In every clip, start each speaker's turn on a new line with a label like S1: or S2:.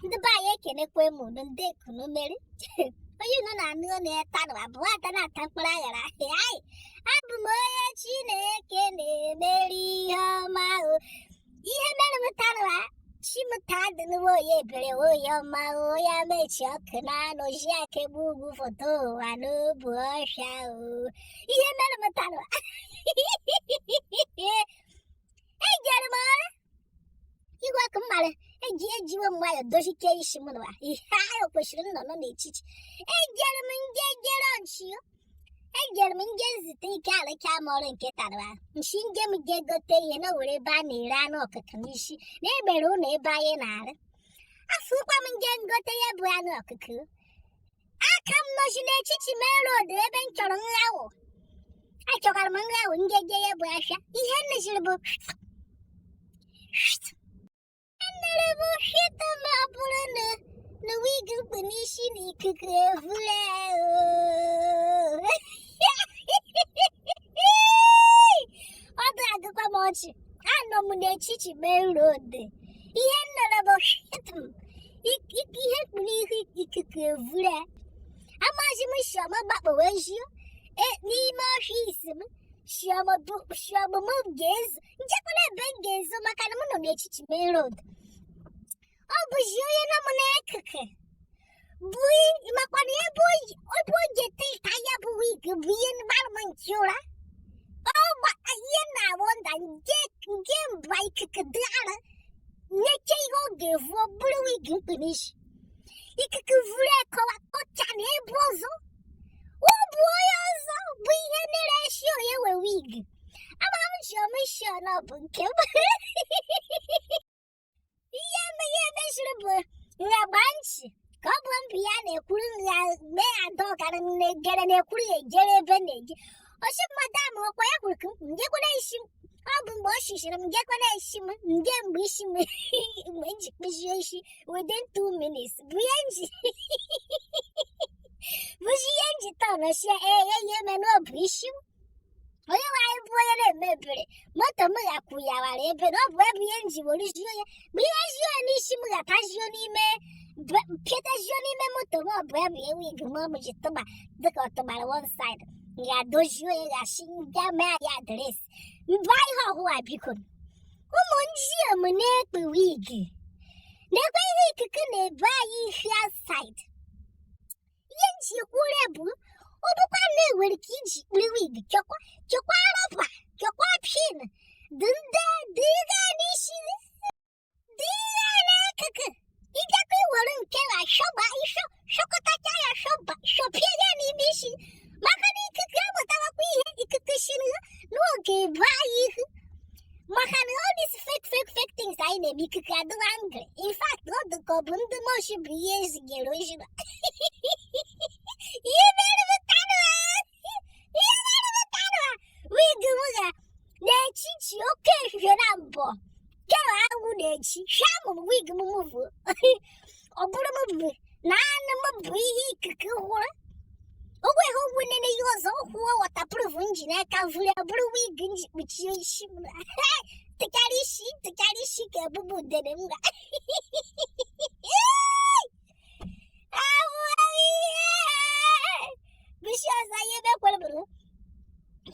S1: ndị be anyị ekenekwa m unu ndee ka unu mere onye unu na-anụ ọnụ ya tanụwa bụ ata na-ata mkpụrụ aghara anyị abụ m onye chineke na-emeri ihe ọma o ihe mere m tanụwa chimụta adịnụwa onye ebere onye ọma o ya mechi ọkụ na-anụ ji aka egbu ugwu foto ụwa n'obu ọhịa o ihe mere m tanụwa ejere m ọrụ igwe ọkụ mmadụ eji ejiwe m nwayọ dochike isi m nụwa ihe ahụ kwesịrị nnọ nọ n'echichi ejere m nje jere nchi ejere m nje nzite ike alụcha m ọrụ nke taa nsị nje m je gote ihe na were ebe a na-ere anụ ọkụkọ n'isi na egbere ụlọ ebe anyị na-arụ afụkwa m nje ngote ya bụ anụ ọkụkọ a ka m nọzi n'echichi main road ebe m chọrọ nghawụ achọkwara m nghawụ ngeje ya bụ ahịa ihe nneziri bụ nnere bụ shita ma ọ bụrụ na na wig m kpu n'isi na ikuku evule ọ dị agụkwa m ọchị anọ m n'echichi main road ihe nnere bụ shita Ik ik ihe m kpu n'isi ikuku evure. Amaghị m sị ọ m gbakpọwe nju e n'ime ọfịs m. Sị ọ mụ ga-ezo. Njekwara ebe m ga-ezo maka na m nọ n'echichi main road. Ọ bụzi onye nọ m n'akụkụ. Bụ i- makwa na ebe o yi- ebe o ji ete ka ya bụ wig bụ ihe gbara m nke ụra. Ọ gba ihe na-awụ nda nke nke mba ikuku dị ara necha ihe ọ ga-evu ọ bụrụ wig m kpu n'isi ikuku vuru ekọwa kọcha na ebe ọzọ ọ bụ onye ọzọ bụ ihe mere e shi onye nwe wig amara m ji ọmịshi ọnụ bụ nke m ihe eme ihe m meziri bụ nragba nchi ka ọ bụ mbụ ya na-ekwuru ya mee ya ada ọgara na-egere na-ekwuru ya ejere ebe na-eje ọ sị m madam ọkwa ya kwuru ka m ngekwere isi m ọ bụ mgbe ọ sịziri m ngekwere isi m nge mgbe isi m mgbe m ji kpụzie isi within two minutes bụ ihe m ji bụzi ihe m ji tọnọchie ee ya ihe mere ọ bụ isi m onye nwe anyị bụ onye na-eme ebere moto m ghakwụ ya wara ebe na ọ bụ ebe ihe nji were jio ya bụ ihe jio n'isi m ghata jio n'ime pịata jio n'ime moto m ọ bụ ebe ihe wig m m ji tụba dịka ọ tụbara one side ya dozie ya ghachi nga mee ya adres mba ihe ọhụwa biko ụmụ njio m na-ekpu wig nekwe ihe ikuku na-ebu anyị ihe outside ihe m ji ekwuore bụ ọ bụkwa na e nwere ka i ji kpiri wig chọkwa chọkwa rọba chọkwa pin dị ndị dịga n'isi dịga n'akụkụ ị bịakwa i were nke na shọba ịshọ shọkọtacha ya shọba shọpie ya n'ime isi maka na ikuku amụtawakwa ihe ikuku sị na ọ ga-ebe anyị ihu maka na all this fake fake fake things anyị na-eme ikuku adịla angry in fact ọ dị ka ọ bụ ndị moshi bụ ihe e zigere ozigbo ihe mere m taa ihe mere m taa wig m ga n'echichi oke ehihie na mbọ kere anwụ na-echi sham wig m move ọ bụrụ m bụ naanị m bụ ihe ikuku hụrụ o nweghị ụgwọ nene ihe ọzọ kwuo waterproof m ji n'aka vuru ọ bụrụ wig m ji kpuchie isi m tụkarị isi tụkarị isi ka ebube udene m ga ahụ ihe bisi ọzọ ihe mekwara bụrụ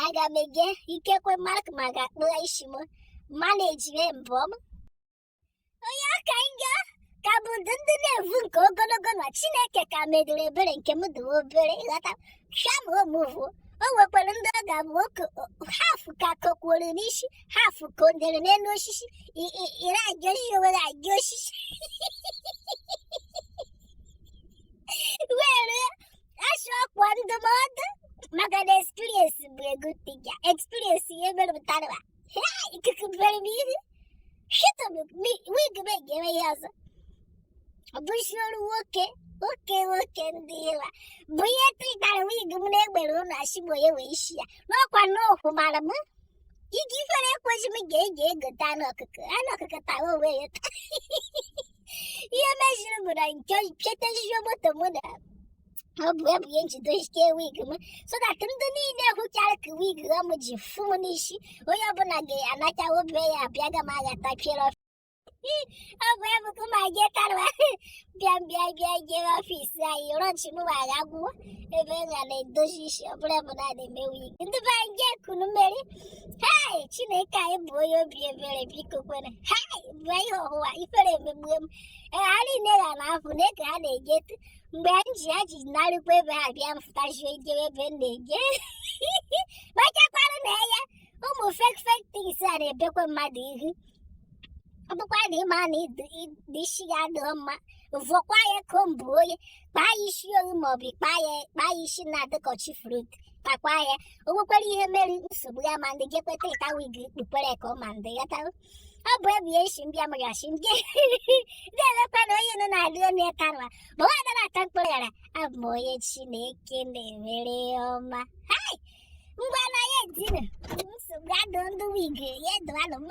S1: aga m eje ikekwe ma ọ ka mma ga-akpụgha isi m manejire mbọ m onye aka nga ka bụ ndị ndị na-evu nke ogologo na chineke ka medịrị ebere nke m dị obere ị ghọta sham ọ move o nwekwara ndị ọ ga-abụ okay half ka kokwuru n'isi half ka o dere n'elu osisi i- i- ire agị osisi were agị osisi were asụ ọkwa ndụmọdụ maka na experience bụ a good teacher experience ihe mere m taa Hei ikuku ebe m ihu. Chọtabe m wig m ga-eme ya ọzọ. Bụ sọ otu nwoke nwoke nwoke ndị ịla. Bụ ihe tụtara wig m na-egbere ụlọ asị bụ onye nwe isi a. N'ọkwa n'okwu mara m. Iji ifere ekweghị m ga egote anụ ọkụkọ. Anụ ọkụkọ tawa onwe ya. ihe meziri bụ na nke pịatezio moto mụ na ọ bụ ebu ya m jide ike wig m so that ndị niile hụchara ka wig ahụ m ji fụ m n'isi onye ọbụla ga-anacha be ya abịa ga m aghata piere ọ bụ ebu ka ma je karwa bịa bịa bịa jee ọfis anyị rọnchi m wara agwụwa ebe m ga na-edozi isi ọ bụla bụ na na-eme wig ndị be anyị jee kunu mmeri hei chineke anyị bụ onye obi ebere biko kwanụ hei bụ ihe ọhụwa ifere emegbuo m ee ha niile ga na afụ na eke ha na-eje tụ mgbe m ji ha ji narịkwa ebe ha bịa m fụtazie ejebe ebe m na-eje kpachakwanụ anya ụmụ fake fake things a na-ebekwa mmadụ ihu ọ bụkwa na ịma na isi ya adịghị mma vụọkwa ya comb onye kpaa ya isi owu ma ọ bụ kpaa ya kpaa ya isi na-adị ka ọchị fruit kpakwa ya o nwekwara ihe mere nsogbu ya ma ndị ga-ekweta ịta wig kpukpere ka ọ ma ndị ya tarụ ọ bụ ebe ya isi mbịa mụrụ asị ndị na-emekwa na onye nọ na-adị ọnụ ya tarụwa ma nwa adara ata mkpụrụ ghara abụ m onye chineke na-emere ọma hai ngwa na ya etine nsogbu adụ ndị wig ya dụalụ m